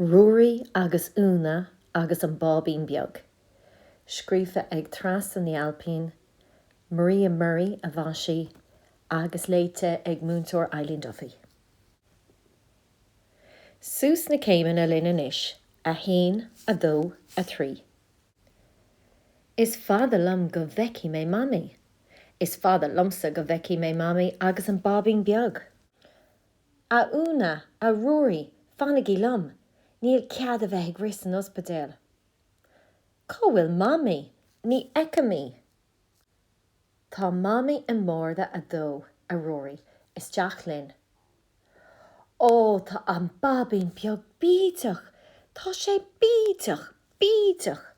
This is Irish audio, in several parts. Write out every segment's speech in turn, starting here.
Ruairí agus Úna agus an Báibín Beag. Scríofa ag Treasa Ní Ailpín, Maria Murray a mhaisigh, agus léite ag Múinteoir Eileen Duffy. Suas na céimeanna linn anois, a haon, a dó, a trí. Is fada liom go bhfeicfidh mé Mamaí. Is fada liomsa go bhfeicfidh mé Mamaí agus an Báibín Beag. A Úna, a Ruairí, fanaigí liom, níl cead a bheith ag rith san ospidéal. Cá bhfuil Mamaí? Ní fheicim í. Tá Mamaí i mbarda a dó, a Ruairí, isteach linn. Ó, tá an báibín beag bídeach, tá sé bídeach, bídeach.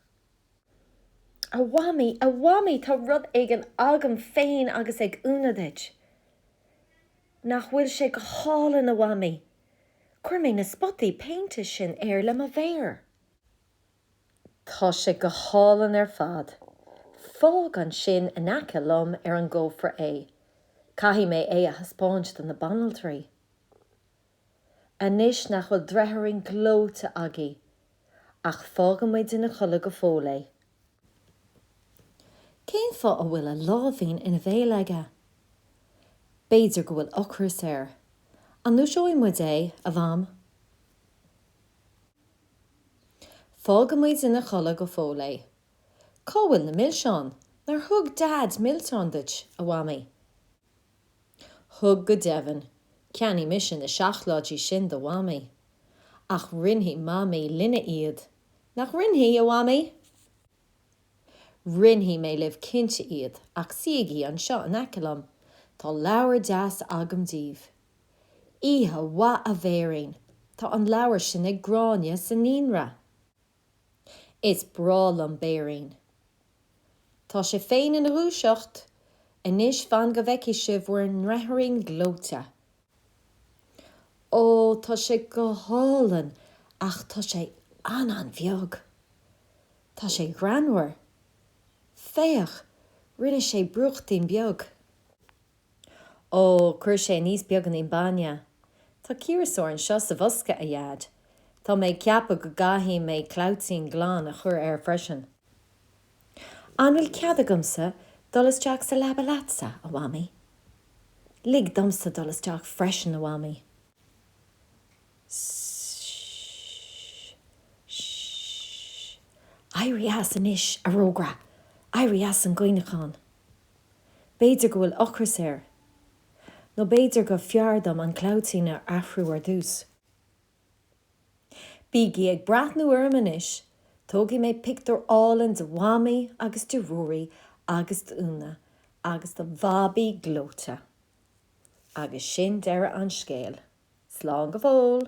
A Mhamaí, a Mhamaí, tá rud éigin agam féin agus ag Úna duit. Nach bhfuil sé go hálainn a Mhamaí! Chuir mé na spotaí péinte sin air le mo mhéar. Tá sé go hálainn ar fad. Fág ansin in aice liom ar an gcófra é. Caithfidh mé é a thaispeáint do na banaltraí. Anois nach bhfuil dreatháirín gleoite agaibh. Ach fágfaimid ina chodladh go fóill é. Cén fáth a bhfuil a láimhín ina bhéal aige? B'fhéidir go bhfuil ocras air. An ndúiseoidh muid é, a Mham? Fágaimid ina chodladh go fóill é. Cá bhfuil na milseáin? Nár thug Deaid milseáin duit, a Mhamaí? Thug go deimhin, cheannaigh mise na seacláidí sin do Mhamaí. Ach roinnfidh Mamaí linne iad, nach roinnfidh, a Mhamaí? Roinnfidh mé libh cinnte iad ach suígí anseo in aice liom, tá leabhar deas agam daoibh. Oíche mhaith a Bhéirín, tá an leabhar sin ag Gráinne sa naíonra. Is breá liom béirín. Tá sé féin ina dhúiseacht. Anois fan go bhfeicfidh sibh bhur ndreatháirín gleoite. Ó, tá sé go hálainn ach tá sé an-an-bheag. Tá sé greannmhar. Féach, rinne sé brúchtín beag. Ó, chuir sé aníos beaganín bainne. Tá ciarsúr anseo sa bhosca, a Dheaid. Tá mé ag ceapadh go gcaithfidh mé clabhaitín glan a chur air freisin. An bhfuil cead agamsa dul isteach sa leaba leatsa, a Mhamaí? Lig domsa dul isteach freisin, a Mhamaí. Sh-sh-sh. Éirigh as anois, a rógaire. Éirigh as an gcaoineachán. B'fhéidir go bhfuil ocras air. Nó b'fhéidir gur fearr dom an clabhtín a athrú ar dtús. Bígí ag breathnú orm anois, tógfaidh mé pictiúr álainn de Mhamaí agus de Ruairí agus d'Úna agus de Bhabaí gleoite. Agus sin deireadh an scéil. Slán go fóill!